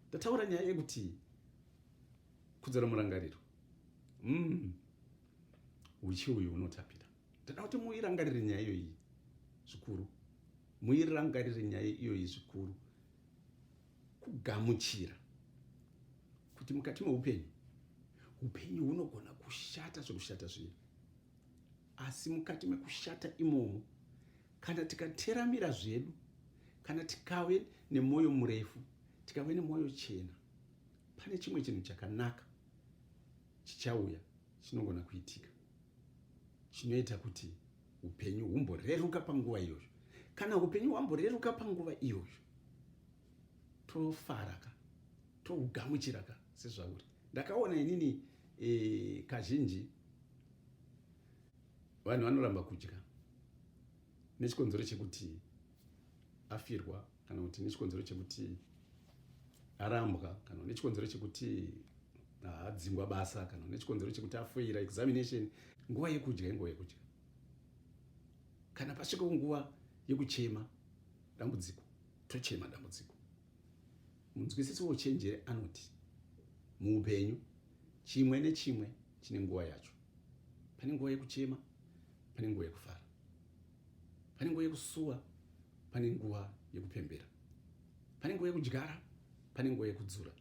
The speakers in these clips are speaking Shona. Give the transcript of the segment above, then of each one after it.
ndataura nyaya yekuti kudzora murangariro mm. uchi uyu unotapira ndada kuti muirangarire nyaya iyoyi zvikuru muirangarire nyaya iyoyi zvikuru kugamuchira kuti mukati meupenyu upenyu hunogona kushata zvekushata zviya asi mukati mekushata imomo Kana tikateramira zvedu, kana tikave nemwoyo murefu, tikave nemwoyo chena, pane chimwe chinhu chakanaka chichauya chinogona kuitika chinoita kuti upenyu humboreruka panguva iyoyo. Kana upenyu hwamboreruka panguva iyoyo, tofara ka, tohugamuchira ka sezvauri. Ndakaona inini e, kazhinji vanhu vanoramba kudya nechikonzero chekuti afirwa kana kuti nechikonzero chekuti arambwa kana nechikonzero chekuti haadzingwa basa kana nechikonzero chekuti afoira examination nguva yekudya inguva yekudya kana pasvika nguva yekuchema dambudziko tochema dambudziko Munzwisisi wouchenjeri anoti muupenyu chimwe nechimwe chine nguva yacho. Pane nguva yekuchema, pane nguva yekufara, pane nguva yekusuwa, pane nguva yekupembera, pane nguva yekudyara, pane nguva yekudzura,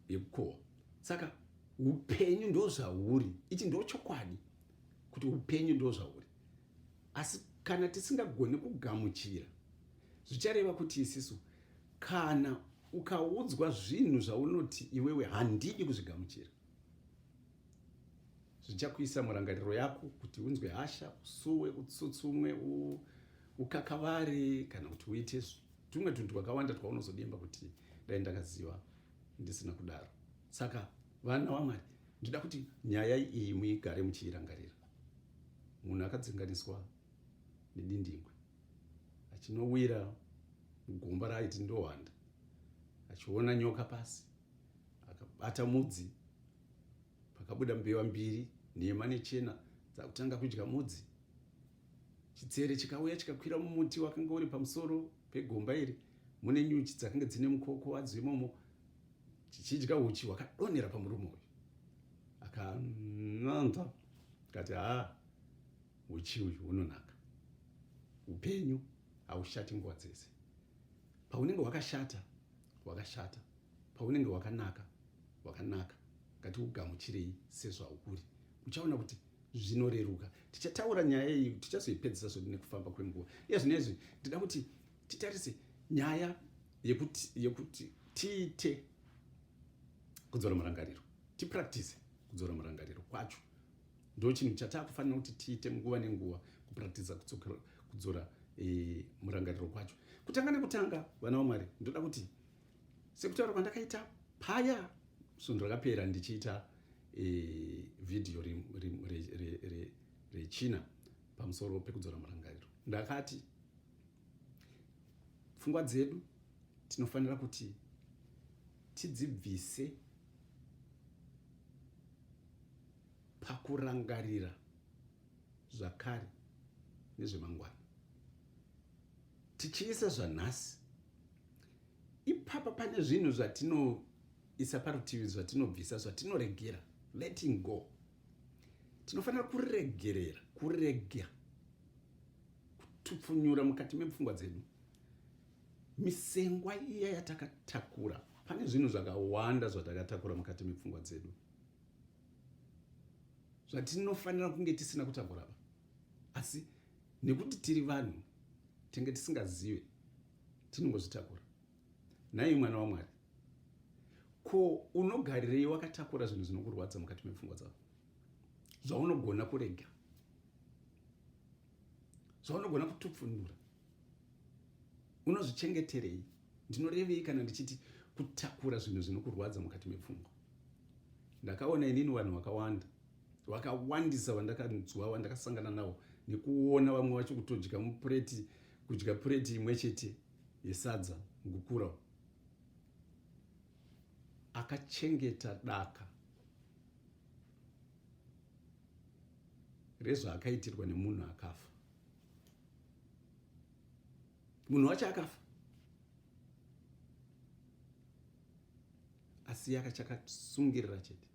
yekukohwa. Saka upenyu ndozvauri, ichi ndochokwadi kuti upenyu ndozvauri. Asi kana tisingagoni kugamuchira, zvichareva kuti isisu, kana ukaudzwa zvinhu zvaunoti iwewe handidi kuzvigamuchira, zvichakuisa murangariro yako kuti unzwe hasha, usuwe, utsutsumwe, u, ukakavare kana kuti uite tumwe tunhu twakawanda twaunozodemba kuti dai ndakaziva ndisina kudaro. Saka vana waMwari Ndinoda kuti nyaya iyi muigare muchiirangarira. Munhu akadzinganiswa nedindingwe achinowira mugomba raaiti ndohwanda achiona nyoka pasi akabata mudzi pakabuda mbewa mbiri nhema nechena dzakutanga kudya mudzi chitsere chikauya chikakwira mumuti wakanga uri pamusoro pegomba iri mune nyuchi dzakange dzine mukoko wadzo imomo chichidya uchi hwakadonhera pamurume uyu akananza kati haa uchi uyu hunonaka upenyu haushati nguva dzese paunenge hwakashata hwakashata paunenge hwakanaka hwakanaka ngati ugamuchirei sezvauri uchaona kuti zvinoreruka tichataura nyaya iyi tichazoipedzisa zvo nekufamba kwenguva iye zvino izvi ndida kuti titarise nyaya yekuti yekuti tiite kudzora murangariro tipractice kudzora murangariro kwacho ndo chinhu chatakufanira kuti tiite nguva nenguva kupractice kudzora e, murangariro kwacho kutanga nekutanga vana vamwari ndoda kuti sekutaura kwandakaita paya svondo rakapera ndichiita e, vhidhiyo rechina re, re, re, re, pamusoro pekudzora murangariro ndakati pfungwa dzedu tinofanira kuti tidzibvise pakurangarira zvakare nezvemangwana tichiisa zvanhasi ipapa pane zvinhu zvatinoisa parutivi zvatinobvisa zvatinoregera letting go tinofanira kuregerera kurega kutupfunyura mukati mepfungwa dzedu misengwa iya yatakatakura pane zvinhu zvakawanda zvatakatakura mukati mepfungwa dzedu zvatinofanira kunge tisina kutakura pa asi nekuti tiri vanhu tenge tisingazive tinongozvitakura Nhai mwana waMwari, ko unogarirei wakatakura zvinhu zvinokurwadza mukati mepfungwa dzavo, zvaunogona kurega, zvaunogona kutupfunura? Unozvichengeterei? Ndinorevei kana ndichiti kutakura zvinhu zvinokurwadza mukati mepfungwa? Ndakaona inini vanhu vakawanda vakawandisa vandakanzwa vandakasangana navo nekuona vamwe vacho kutodya mupureti kudya pureti imwe chete yesadza Gukurawo akachengeta daka rezvaakaitirwa nemunhu akafa. Munhu wacho akafa asi yakachakasungirira chete.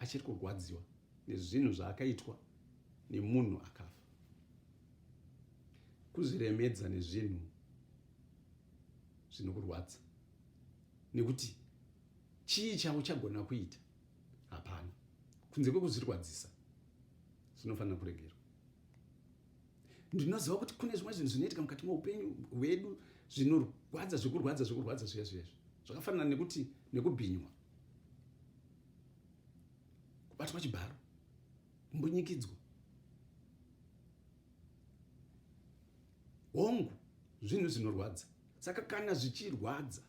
achiri kurwadziwa nezvinhu zvaakaitwa nemunhu akafa kuzviremedza nezvinhu zvinokurwadza nekuti chii chavo chagona kuita hapana kunze kwekuzvirwadzisa zvinofanira kuregerwa ndinoziva kuti kune zvimwe zvinhu zvinoitika mukati meupenyu hwedu zvinorwadza zvekurwadza zvekurwadza zviya zviya zvakafanana nekuti nekubhinywa kubatwa chibharo mbunyikidzwa hongu zvinhu zvinorwadza saka kana zvichirwadza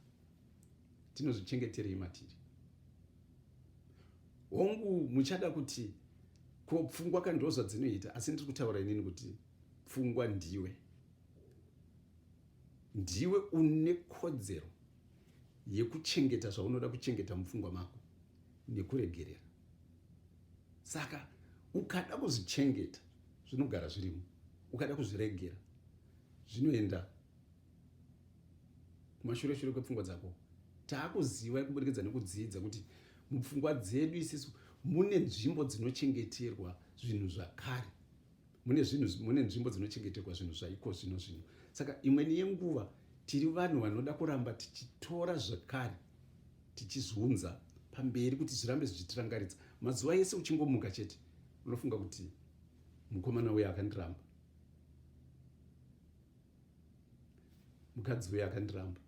tinozvichengeterei matiri hongu muchada kuti ko pfungwa ka ndozva dzinoita asi ndiri kutaura inini kuti pfungwa ndiwe ndiwe une kodzero yekuchengeta zvaunoda kuchengeta mupfungwa mako nekuregerera saka ukada kuzvichengeta zvinogara zvirimo ukada kuzviregera zvinoenda kumashure shure kwepfungwa dzako taakuziva kuburikidza nekudzidza kuti mupfungwa dzedu isisu mune nzvimbo dzinochengeterwa zvinhu zvakare mune zvinhu mune nzvimbo dzinochengeterwa zvinhu zvaiko zvino zvino saka imweni yenguva tiri vanhu vanoda kuramba tichitora zvakare tichizunza pamberi kuti zvirambe zvichitirangaridza mazuva ese uchingomuka chete unofunga kuti mukomana uye akandiramba mukadzi uye akandiramba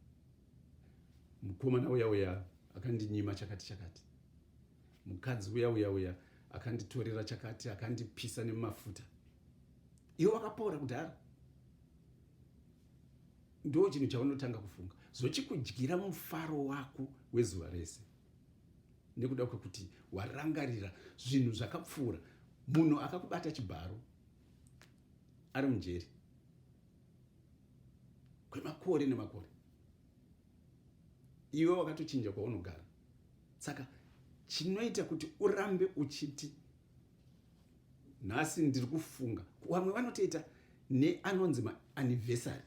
mukomana uya uya akandinyima chakati chakati mukadzi uya uya uya akanditorera chakati akandipisa nemafuta iwe wakapora kudhara ndo chinhu chaunotanga kufunga zvochikudyira mufaro wako wezuva rese nekuda kwekuti warangarira zvinhu zvakapfuura munhu akakubata chibharo ari mujeri kwemakore nemakore iwe wakatochinja kwaunogara saka chinoita kuti urambe uchiti nhasi ndiri kufunga vamwe vanotoita neanonzi maanivhesary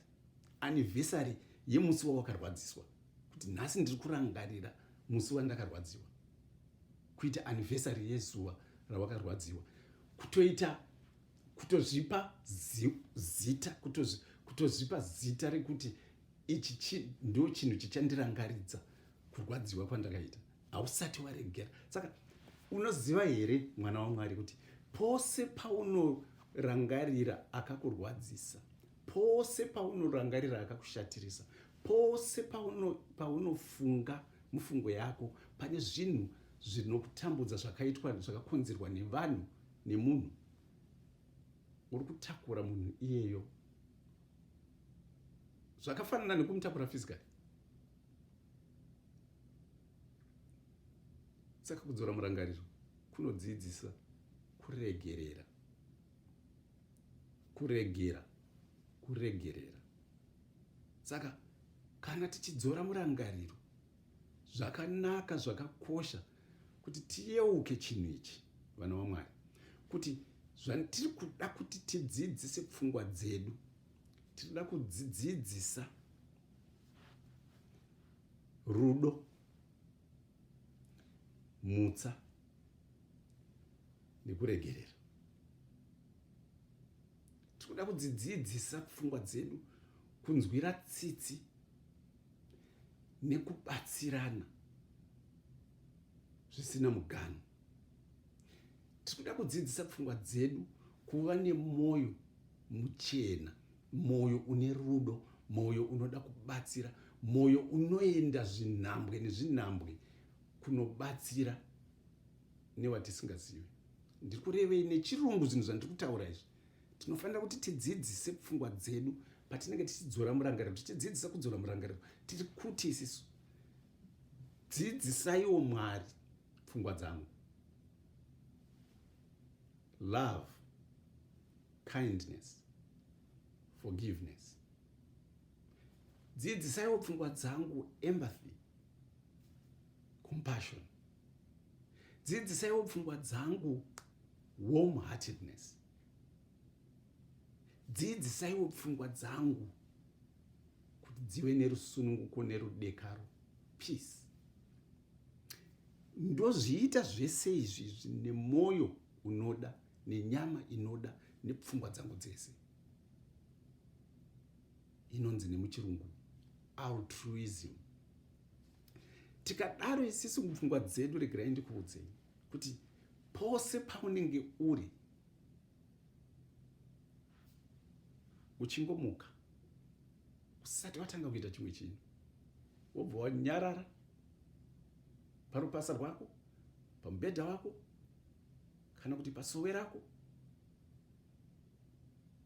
anivhesary yemusi wawakarwadziswa kuti nhasi ndiri kurangarira musi wandakarwadziwa kuita anivhesary yezuva rawakarwadziwa kutoita kutozvipa zita kutozvipa zita rekuti ichi chi ndo chinhu chichandirangaridza kurwadziwa kwandakaita hausati waregera saka unoziva here mwana wamwari kuti pose paunorangarira akakurwadzisa pose paunorangarira akakushatirisa pose paunofunga pauno mufungo yako pane zvinhu zvinokutambudza zvakaitwa zvakakonzerwa nevanhu nemunhu uri kutakura munhu iyeyo zvakafanana nekumutakura physically saka kudzora murangariro kunodzidzisa kuregerera kuregera kuregerera saka kana tichidzora murangariro zvakanaka zvakakosha kuti tiyeuke chinhu ichi vana vamwari kuti zvatiri kuda kuti tidzidzise pfungwa dzedu tinoda kudzidzidzisa rudo mutsa nekuregerera tinoda kudzidzidzisa pfungwa dzedu kunzwira tsitsi nekubatsirana zvisina muganhu tiri kuda kudzidzisa pfungwa dzedu kuva nemwoyo muchena mwoyo une rudo mwoyo unoda kubatsira mwoyo unoenda zvinhambwe nezvinhambwe kunobatsira newatisingazivi ndiri kurevei nechirungu zvinhu zvandiri kutaura izvi tinofanira kuti tidzidzise pfungwa dzedu patinenge tichidzora murangariro tichidzidzisa kudzora murangariro tiri kuti isisu dzidzisaiwo mwari pfungwa dzangu love kindness forgiveness dzidzisaiwo pfungwa dzangu empathy compassion dzidzisaiwo pfungwa dzangu warm heartedness dzidzisaiwo pfungwa dzangu kuti dzive nerusununguko nerudekaro peace ndozviita zvese izvizvi nemwoyo unoda nenyama inoda nepfungwa dzangu dzese inonzi nemuchirungu altruism tikadaro isisu mupfungwa dzedu regerai ndikuudzei kuti pose paunenge uri uchingomuka usati watanga kuita chimwe chinhu wobva wanyarara parupasa rwako pamubhedha wako kana kuti pasowe rako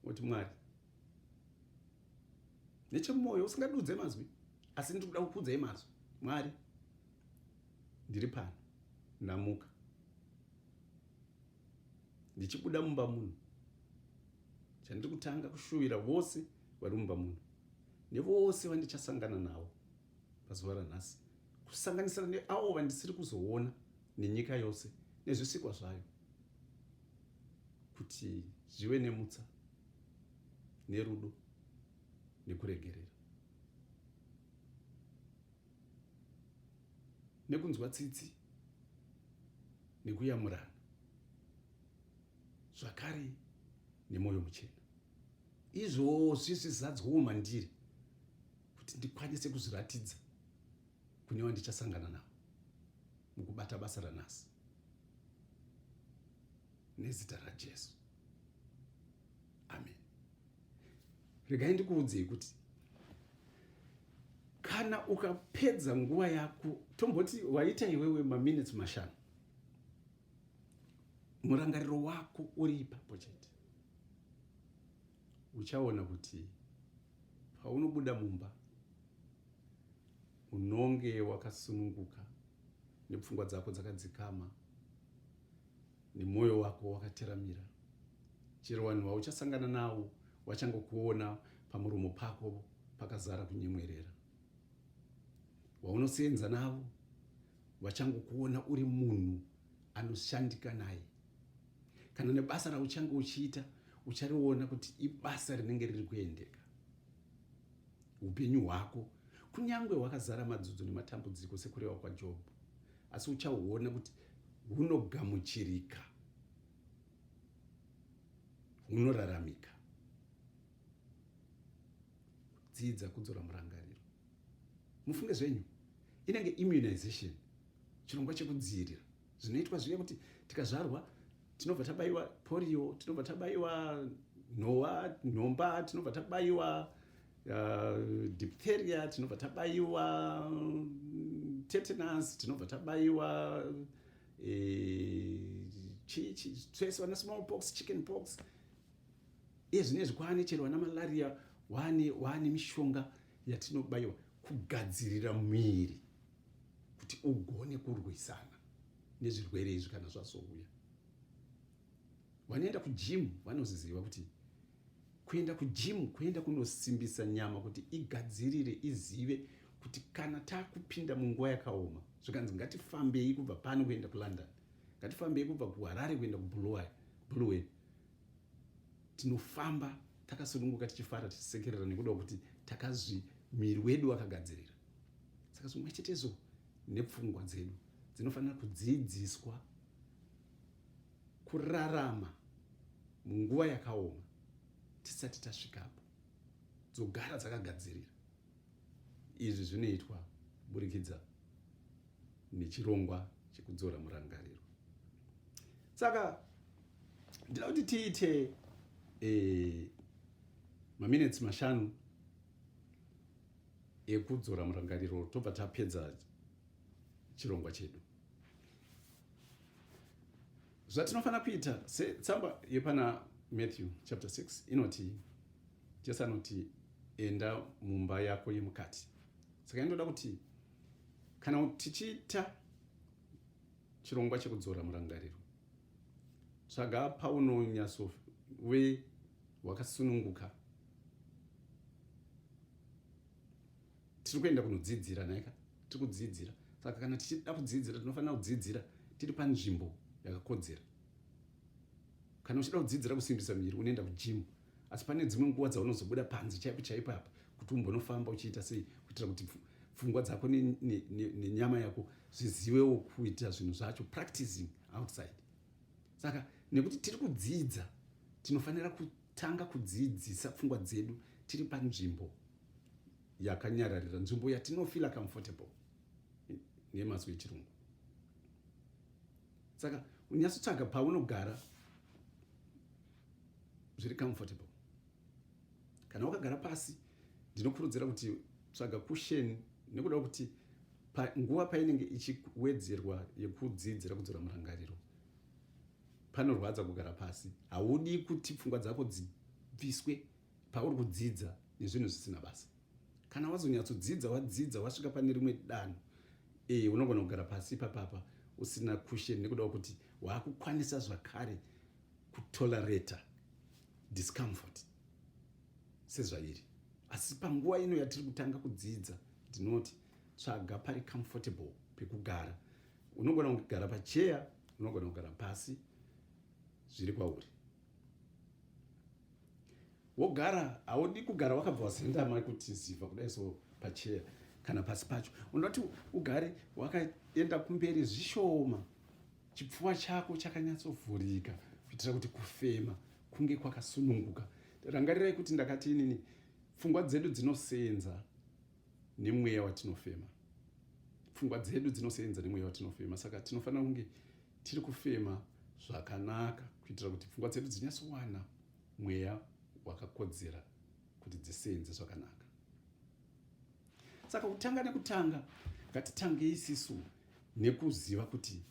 woti mwari nechemumwoyo usingadudze mazwi asi ndiri kuda kukudzai mazwi mwari ndiri pano ndamuka ndichibuda mumba muno chandiri kutanga kushuvira vose vari mumba muno nevose vandichasangana navo pazuva ranhasi kusanganisira neavo vandisiri kuzoona nenyika yose nezvisikwa zvayo kuti zvive nemutsa nerudo nekuregerera nekunzwa tsitsi nekuyamurana zvakare nemwoyo muchena izvozvi zvizadzwawo mandiri kuti ndikwanise kuzviratidza kune vandichasangana navo mukubata basa ranhasi nezita rajesu amen regai ndikuudzei kuti kana ukapedza nguva yako tomboti waita iwewe maminutes mashanu murangariro wako uri ipapo chete uchaona kuti paunobuda mumba unonge wakasununguka nepfungwa dzako dzakadzikama nemwoyo wako wakateramira chero vanhu vauchasangana navo vachangokuona pamuromo pako pakazara kunyemwerera vaunoseenza navo vachangokuona uri munhu anoshandika naye kana nebasa rauchange uchiita uchariona kuti ibasa rinenge riri kuendeka upenyu hwako kunyange hwakazara madzudzo nematambudziko sekureva kwajobho asi uchaona kuti hunogamuchirika, hunoraramika. Dzidza kudzora murangariro. Mufunge zvenyu, inenge immunization, chirongwa chekudziirira zvinoitwa zviya kuti tikazvarwa tinobva tabaiwa porio, tinobva tabaiwa nhowa, nhomba, tinobva tabaiwa uh, diphtheria tinobva tabaiwa tetanus tinobva tabaiwa eh, twese vana small pox chicken pox ezvine zvikwane chero vana malaria wane wane mishonga yatinobaiwa kugadzirira muviri kuti ugone kurwisana nezvirwere izvi kana zvazouya Vanoenda kujimu vanoziziva kuti kuenda kujimu kuenda kunosimbisa nyama kuti igadzirire izive kuti kana takupinda munguva yakaoma zvikanzi ngatifambei kubva pano kuenda kulondon ngatifambei kubva kuharare kuenda kubuluwen tinofamba takasununguka tichifara tichisekerera nekuda kuti takazvi miri wedu wakagadzirira saka zvimwe chetezo nepfungwa dzedu dzinofanira kudzidziswa kurarama munguva yakaoma tisati tasvikapo dzogara dzakagadzirira izvi zvinoitwa kuburikidza nechirongwa chekudzora murangariro saka ndida kuti tiite e, maminetsi mashanu ekudzora murangariro tobva tapedza chirongwa chedu zvatinofanira kuita setsamba yepana matthew chapter 6 inoti jesu anoti enda mumba yako yemukati saka inotoda kuti kana tichiita chirongwa chekudzora murangariro tsvaga paunonyatso we wakasununguka tiri kuenda kunodzidzira nhaika tiri kudzidzira saka kana tichida kudzidzira tinofanira kudzidzira tiri panzvimbo yakakodzera kana uchida kudzidzira kusimbisa muviri unoenda kujimu asi pane dzimwe nguva dzaunozobuda panze chaipo chaipo apa kuti umbonofamba uchiita sei kuitira kuti pfungwa dzako nenyama yako zvizivewo kuita zvinhu zvacho practicing outside saka nekuti tiri kudzidza tinofanira Tanga kudziidzisa pfungwa dzedu tiri panzvimbo yakanyararira, nzvimbo yatinofila comfortable nemazwi echirungu. Saka unyatsotsvaga paunogara zviri comfortable. Kana wakagara pasi, ndinokurudzira kuti tsvaga kusheni nekuda kuti nguva painenge ichiwedzerwa yekudzidzira kudzora murangariro Panorwadza kugara pasi. Haudi kuti pfungwa dzako dzibviswe pauri kudzidza nezvinhu zvisina basa. Kana wazonyatsodzidza wadzidza wasvika pane rimwe danho, eh, unogona kugara pasi ipapapa usina cushion nekuda kuti waakukwanisa zvakare kutolerata discomfort sezvairi. Asi panguva ino yatiri kutanga kudzidza, ndinoti tsvaga pari comfortable pekugara unogona kugara pacheya unogona kugara pasi zviri kwauri wogara haudi kugara wakabva wazendama kuti ziva kudai so pacheya kana pasi pacho unoti ugare wakaenda kumberi zvishoma chipfuva chako chakanyatsovhurika kuitira kuti kufema kunge kwakasununguka rangarirai kuti ndakati inini pfungwa dzedu dzinosenza nemweya watinofema pfungwa dzedu dzinosenza nemweya watinofema saka tinofanira kunge tiri kufema zvakanaka kuitira kuti pfungwa dzedu dzinyatsowana mweya wakakodzera kuti dzisenze zvakanaka saka kutanga nekutanga ngatitangei isisu nekuziva kuti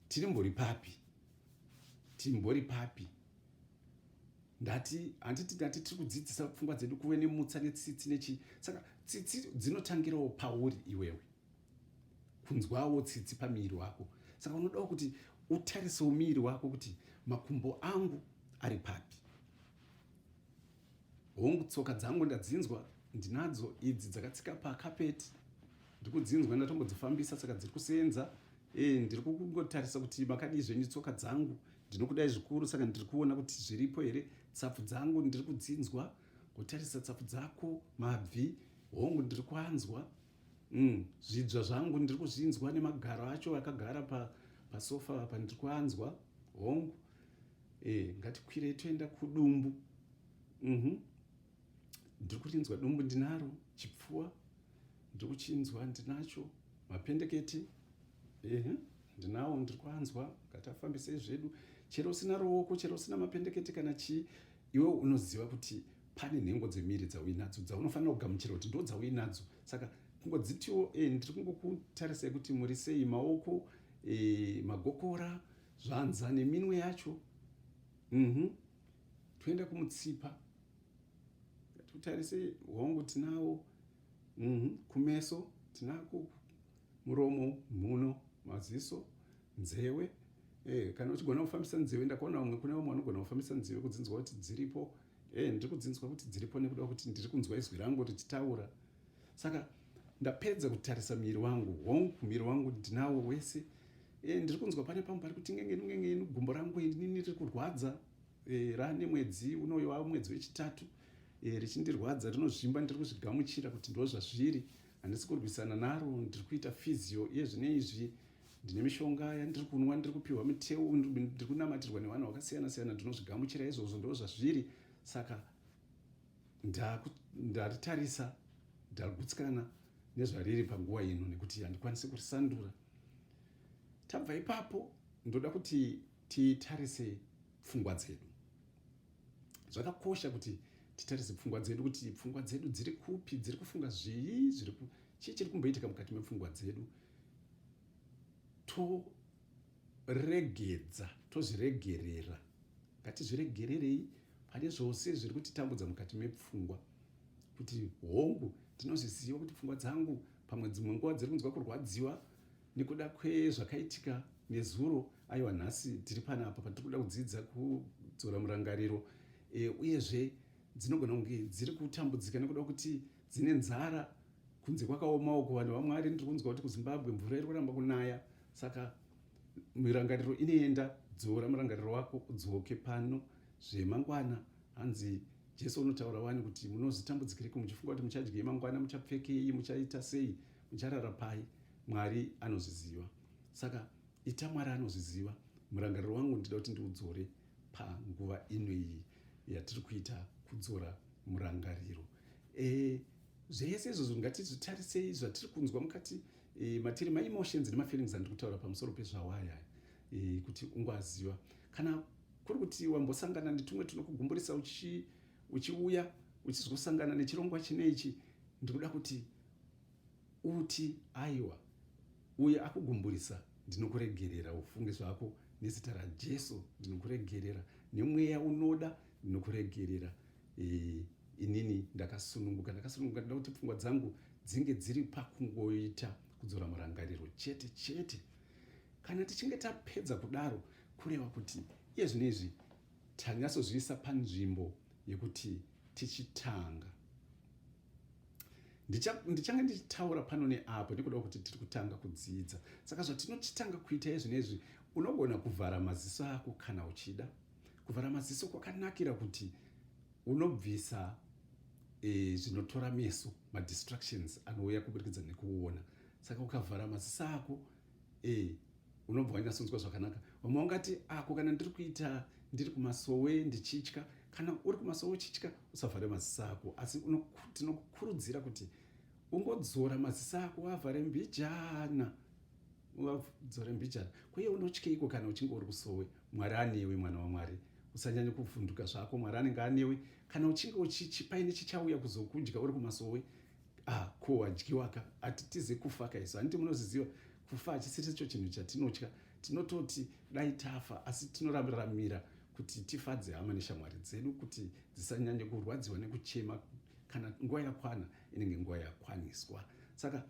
tiri mbori papi timbori papi ndati handiti ndati tiri kudzidzisa pfungwa dzedu kuve nemutsa netsitsi nechii saka tsitsi dzinotangirawo pauri iwewe kunzwawo tsitsi pamiiri wako saka unodawo kuti utarisewo miiri wako kuti makumbo angu ari papi hongu tsoka dzangu ndadzinzwa ndinadzo idzi dzakatsika pakapeti ndikudzinzwa ndatombodzifambisa saka dziri kuseenza Eh, ndiri kukungotarisa kuti makadii zvenyu tsoka dzangu ndinokudai zvikuru saka ndiri kuona kuti zviripo here tsapfu dzangu ndiri kudzinzwa kutarisa tsapfu dzako mabvi hongu ndiri kwanzwa mm, zvidzva zvangu ndiri kuzvinzwa nemagaro acho akagara pa, pasofa apa ndiri kwanzwa hongu e, ngatikwirei toenda kudumbu mm -hmm. ndiri kurinzwa dumbu ndinaro chipfuwa ndiri kuchinzwa ndinacho mapendeketi ehe ndinawo ndiri kuanzwa ngati afambisei zvedu chero usina ruoko chero usina mapendeketi kana chii iwe unoziva kuti pane nhengo dzemiri dzauinadzo dzaunofanira kugamuchira kuti ndo dzauinadzo saka kungodzitiwo e, eh, ndiri kungokutarisai kuti muri sei maoko e, magokora zvanza neminwe yacho mm -hmm. toenda kumutsipa tutarise hongu tinawo mm-hmm. kumeso tinako muromo mhuno maziso nzewe eh, kana uchigona kufambisa nzewe ndakaona vamwe kune vamwe vanogona kufambisa nzewe kudzinzwa kuti dziripo eh, ndiri kudzinzwa kuti dziripo nekuda kuti ndiri kunzwa izwi rangu richitaura saka ndapedza kutarisa miri wangu hongu miri wangu ndinawo wese e, ndiri kunzwa pane pamwe pari kuti ngengenu ngengenu gumbo rangu inini riri kurwadza e, eh, rane mwedzi unoyo wavo mwedzi wechitatu e, richindirwadza rinozvimba ndiri kuzvigamuchira kuti ndo zvazviri handisi kurwisana naro ndiri kuita fizio iye zvine izvi ndine mishonga yandiri kunwa ndiri kupiwa mitewu ndiri kunamatirwa nevanhu vakasiyana siyana ndinozvigamuchira izvozvo ndo zvazviri saka ndaritarisa ndagutsikana nezvariri panguva ino nekuti handikwanisi kurisandura tabva ipapo ndoda kuti titarise pfungwa dzedu zvakakosha kuti titarise pfungwa dzedu kuti pfungwa dzedu dziri kupi dziri kufunga zvii chii chiri kumboitika mukati mepfungwa dzedu to regedza tozviregerera ngatizviregererei pane zvose zviri kutitambudza mukati mepfungwa kuti hongu ndinozviziva kuti pfungwa dzangu pamwe dzimwe nguva dziri kunzwa kurwadziwa nekuda kwezvakaitika nezuro aiwa nhasi tiri panapa patiri kuda kudzidza kudzora murangariro e, uyezve dzinogona kunge dziri kutambudzika nekuda kuti dzine nzara kunze kwakaomawo kuvanhu vamwari ndiri kunzwa kuti kuzimbabwe mvura iri kuramba kunaya saka mirangariro inoenda dzora murangariro wako udzoke pano zvemangwana hanzi jesu unotaura wani kuti munozitambudzikiriko muchifunga kuti muchadyei mangwana muchapfekei muchaita sei mucharara pai mwari anozviziva saka ita mwari anozviziva murangariro wangu ndida kuti ndiudzore panguva ino iyi yatiri kuita kudzora murangariro e, zvese izvozvo ngatizvitarisei zvatiri kunzwa mukati e, matiri maemotions nemafeelings andiri kutaura pamusoro pezvawaya e, kuti ungwaziva kana kuri kuti wambosangana netumwe tunokugumburisa uchi uchiuya uchizosangana nechirongwa chine ichi ndikuda kuti uti aiwa uye akugumburisa ndinokuregerera ufunge zvako nezita rajesu ndinokuregerera nemweya unoda nokuregerera e, inini ndakasununguka ndakasununguka ndoda kuti pfungwa dzangu dzinge dziri pakungoita kudzora murangariro chete chete kana tichinge tapedza kudaro kureva kuti iye zvino izvi tanyatsozviisa panzvimbo yekuti tichitanga ndichange ndichitaura pano neapo nekuda kuti tiri kutanga kudzidza saka zvatinochitanga kuita izvinezvi unogona kuvhara maziso ako kana uchida Kuvhara maziso kwakanakira kuti unobvisa e, zvinotora meso madistractions anouya kuburikidza nekuona saka ukavhara maziso ako e, unobva wanyatsonzwa zvakanaka vamwe ungati ako kana ndiri kuita ndiri kumasowe ndichitya kana uri kumasowe uchitya usavhare maziso ako asi tinokukurudzira kuti ungodzora maziso ako wavhare mbijana wavdzore mbijana kuye unotyeiko kana uchinge uri kusowe mwari anewe mwana wamwari usanyanye kuvhunduka zvako mwari anenge anewe kana uchinge uchichipaine chichauya kuzokudya uri kumasowe ah, ko wadyiwaka hatitize kufa ka isu handiti munozviziva kufa hachisiricho chinhu chatinotya tinototi dai tafa asi tinorambiramira kuti tifadze hama neshamwari dzedu kuti dzisanyanye kurwadziwa nekuchema kana nguva yakwana inenge nguva yakwaniswa saka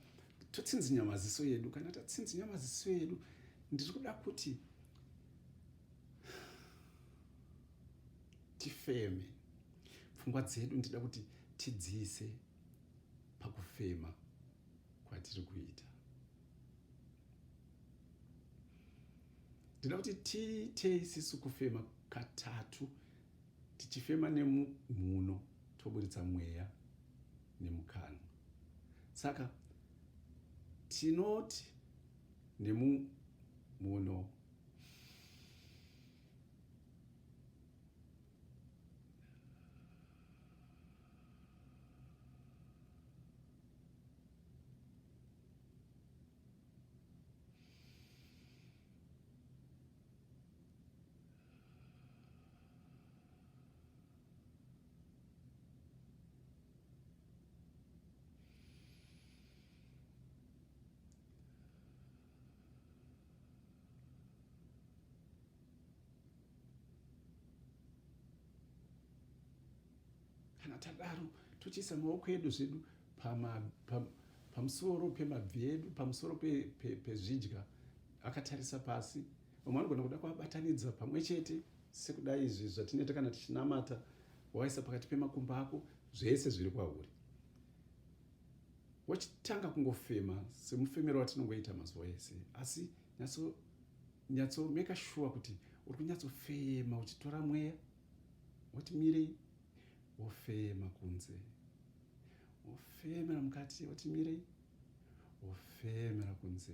totsinzinya maziso edu kana tatsinzinya maziso edu ndiri kuda kuti tifeme pfungwa dzedu ndida kuti tidziise pakufema kwatiri kuita ndida kuti tiitei isisu kufema katatu tichifema nemumhuno toburitsa mweya nemukanwa saka tinoti nemumuno kana tadaro tochiisa maoko edu zvedu pamusoro pemabvi edu pamusoro pezvidya akatarisa pasi vamwe vanogona kuda kuvabatanidza pamwe chete sekudai izvi zvatinoita kana tichinamata waisa pakati pemakumba ako zvese zviri kwauri wachitanga kungofema semufemero watinongoita mazuva ese asi nyatso nyatso make sure kuti uri kunyatsofema uchitora mweya woti mirei wofema kunze wofemera mukati woti mirei wofemera kunze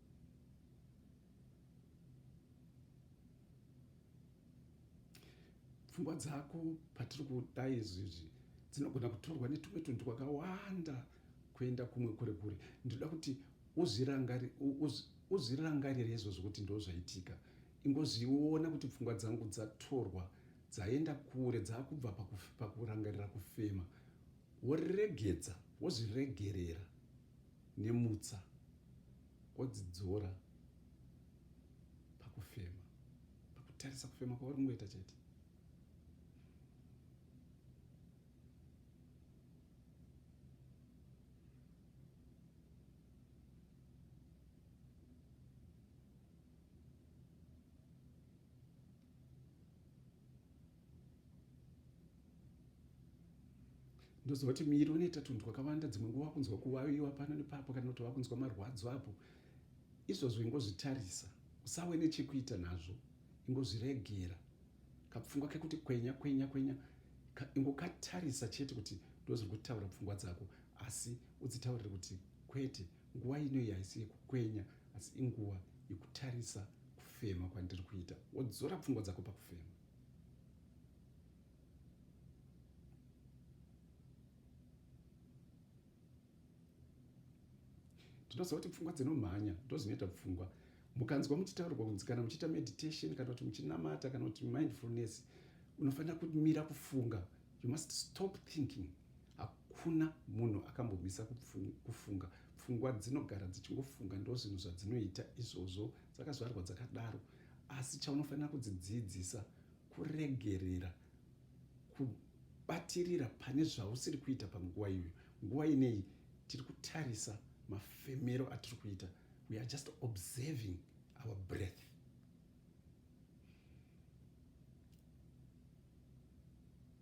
pfungwa dzako patiri kuda izvi izvi dzinogona kutorwa netumwe tunhu twakawanda kuenda kumwe kure kure ndinoda kuti uzvirangarire izvozvo kuti ndo zvaitika ingozviona kuti pfungwa dzangu dzatorwa dzaenda kure dzaakubva pakurangarira kufema woregedza wozviregerera nemutsa wodzidzora pakufema pakutarisa kufema kwauri kungoita chete ndoziva kuti miri unoita tunhu twakawanda dzimwe nguva kunzwa kuvaviwa pano nepapo kana kuti vakunzwa marwadzo apo izvozvo ingozvitarisa usawe nechekuita nazvo ingozviregera kapfungwa kekuti kwenya kwenya kwenya ingokatarisa chete kuti ndozviri kutaura pfungwa dzako asi udzitaurire kuti kwete Nguva ino iyi haisi yekukwenya asi inguva yekutarisa kufema kwandiri kuita wodzora pfungwa dzako pakufema ndinoziva kuti pfungwa dzinomhanya ndozvinoita pfungwa mukanzwa muchitaurwa kunzi kana muchiita meditation kana kuti muchinamata kana kuti mindfulness unofanira kumira kufunga you must stop thinking hakuna munhu akambomisa kufunga pfungwa dzinogara dzichingofunga ndo zvinhu zvadzinoita izvozvo dzakazvarwa dzakadaro asi chaunofanira kudzidzidzisa kuregerera kubatirira pane zvausiri kuita panguva iyoyo nguva inei tiri kutarisa mafemero atiri kuita we are just observing our breath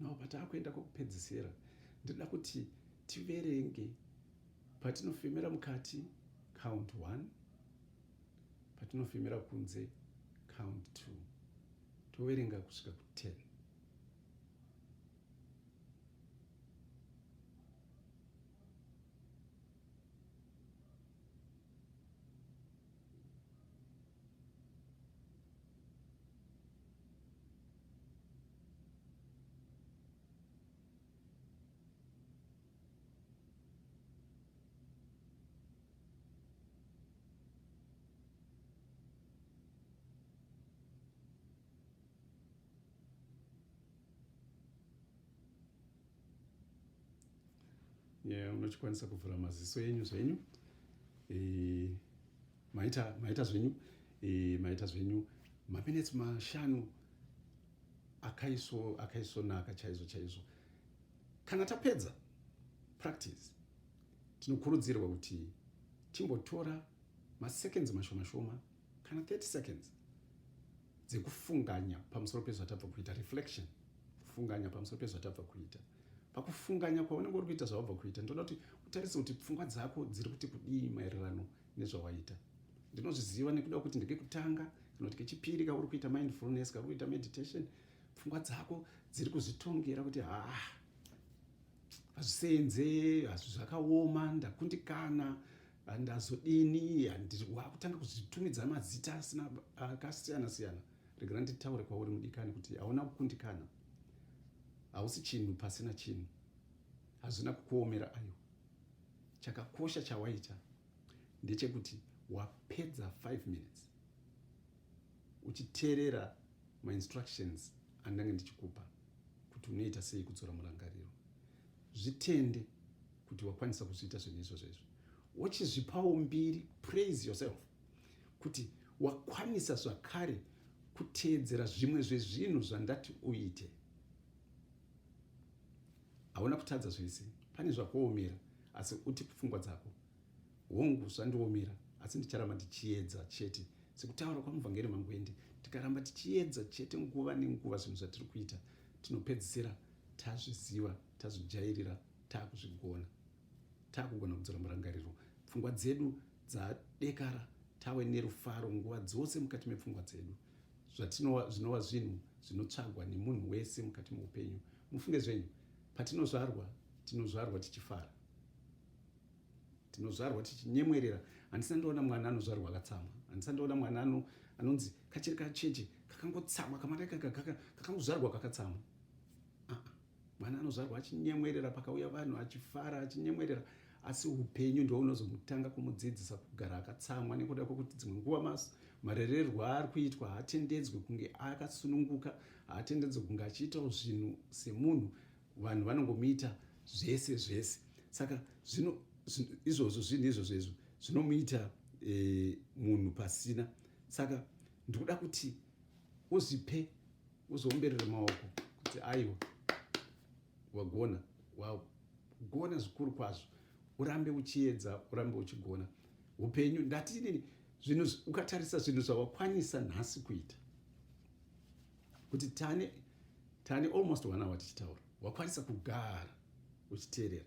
now pataakuenda kwekupedzisira ndinoda kuti tiverenge patinofemera mukati count one patinofemera kunze count two toverenga kusvika kuten yeah, unokwanisa kuvhura maziso enyu zvenyu e, maita maita zvenyu e, maita zvenyu maminetsi mashanu akaiso akaisonaka chaizvo chaizvo kana tapedza practice tinokurudzirwa kuti timbotora maseconds mashoma shoma kana 30 seconds dzekufunganya pamusoro pezvatabva kuita reflection kufunganya pamusoro pezvatabva kuita pakufunganya kwaunenge uri kuita zvawabva kuita ndoda kuti utarise kuti pfungwa dzako dziri kuti kudii maererano nezvawaita ndinozviziva nekuda kuti ndikekutanga kana kuti kechipiri kauri kuita mindfulness kauri kuita meditation pfungwa dzako dziri kuzvitongera kuti haa hazvisenze hazvi zvakaoma ndakundikana ndazodini wakutanga kuzvitumidza mazita asina akasiyana siyana regera nditaure kwauri mudikani kuti hauna kukundikana hausi chinhu pasina chinhu hazvina kukuomera aiwa chakakosha chawaita ndechekuti wapedza 5 minutes uchiteerera mainstructions andange ndichikupa kuti unoita sei kudzora murangariro zvitende kuti wakwanisa kuzviita zvinhu izvozvo izvo wochizvipawo mbiri praise yourself kuti wakwanisa zvakare kuteedzera zvimwe zvezvinhu zvandati uite Hauna kutadza zvese pane zvakuomera asi uti pfungwa dzako. Hongu zvandiomera asi ndicharamba ndichiedza chete sekutaura kwamuvhangeri Mangwende tikaramba tichiedza chete nguva nenguva zvinhu zvatiri kuita tinopedzisira tazviziva tazvijairira takuzvigona takugona kudzora murangariro pfungwa dzedu dzadekara tawe nerufaro nguva dzose mukati mepfungwa dzedu zvatinova zvinova zvinhu zvinotsvagwa nemunhu wese mukati meupenyu mufunge zvenyu patinozvarwa tinozvarwa tichifara tinozvarwa tichinyemwerera handisa ndoona mwana anozvarwa akatsamwa handisa ndoona mwana ano anonzi kachiri kacheche kakangotsamwa kamwana ikaka kakangozvarwa kakatsamwa mwana anozvarwa achinyemwerera pakauya vanhu achifara achinyemwerera asi upenyu ndo unozomutanga kumudzidzisa kugara akatsamwa nekuda kwekuti dzimwe nguva mas marererwo aari kuitwa haatendedzwe kunge akasununguka haatendedzwe kunge achiitawo zvinhu semunhu vanhu vanongomuita zvese zvese saka zvino izvozvo zvinhu izvozvo izvo zvinomuita e, munhu pasina saka ndikuda kuti uzvipe uzoomberere maoko kuti aiwa wagona wagona zvikuru kwazvo urambe uchiedza urambe uchigona upenyu ndati inini zvinhu ukatarisa zvinhu zvawakwanisa nhasi kuita kuti tane tane almost one hour tichitaura wakwanisa kugara uchiteerera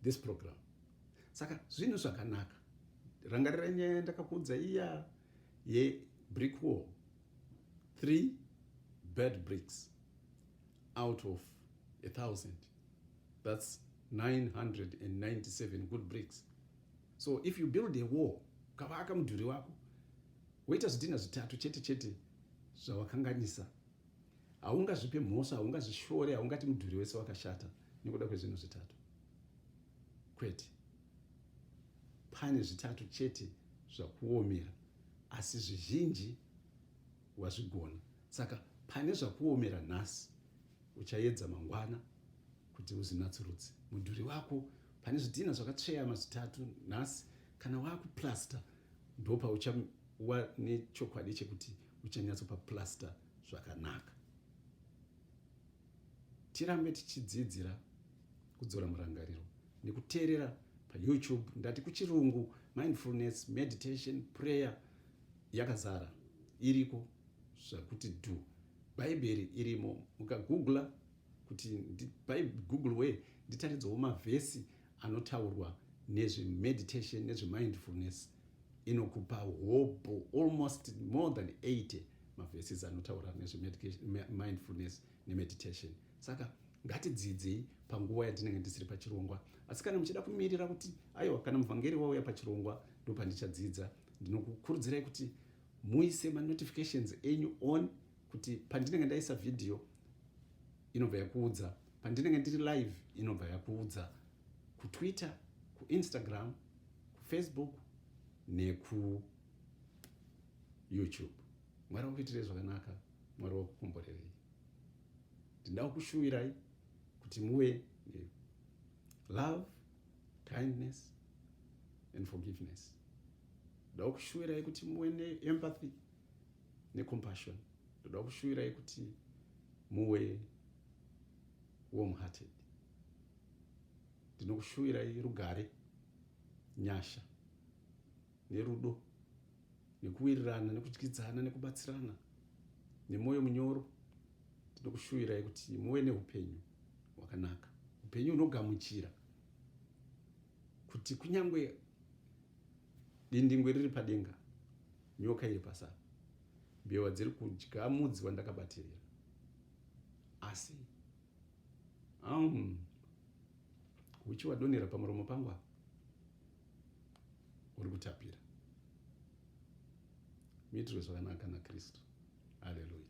this program saka zvinhu zvakanaka rangarira nyaya yandakakuudza iya yebrick wall three bad bricks out of a thousand that's 997 good bricks so if you build a wall ukavaka mudhuri wako woita zvidhina zvitatu chete chete zvavakanganisa haungazvipe mhosva haungazvishore haungati mudhuri wese wakashata nekuda kwezvinhu zvitatu kwete pane zvitatu chete zvakuomera asi zvizhinji wazvigona saka pane zvakuomera nhasi uchayedza mangwana kuti uzvinatsurudze mudhuri wako pane zvidhina zvakatsveyama zvitatu nhasi kana wakuplasta ndopauchawa nechokwadi chekuti uchanyatsopaplasta zvakanaka tirambe tichidzidzira kudzora murangariro nekuteerera payoutube ndati kuchirungu mindfulness meditation prayer yakazara iriko zvakuti dhu bhaibheri irimo mukagoogla kuti google way nditaridzawo mavhesi anotaurwa nezvemeditation nezvemindfulness inokupa hobho almost more than 80 mavhesis anotaura nezvemindfulness nemeditation saka ngatidzidzei panguva yatinenge tisiri pachirongwa asi kana muchida kumirira kuti aiwa kana muvhangeri wauya pachirongwa ndopandicadzidza ndinokukurudzirai kuti muise manotifications enyu on kuti pandinenge ndaisa vhidhiyo inobva yakuudza pandinenge ndiri live inobva yakuudza kutwitter kuinstagram kufacebook nekuyoutube mwari wakuitirei zvakanaka mwari wakukomborerei ndinda kukushuwirai kuti muve love kindness and forgiveness ndakukushuwirai kuti muve neempathy necompassion ndoda kushuvirai kuti muwe warm hearted ndinokushuvirai rugare nyasha nerudo nekuwirirana nekudyidzana nekubatsirana nemwoyo munyoro ndinokushuvirai kuti muwe neupenyu hwakanaka upenyu hunogamuchira kuti kunyange dindingwe riri padenga Nyoka iri pasi apa. Mbeva dziri kudya mudzi wandakabatirira. Asi. Um, huchi wadonhera pamuromo pangu apa. Uri kutapira. Muitirwe zvakanaka naKristu. Haleluya.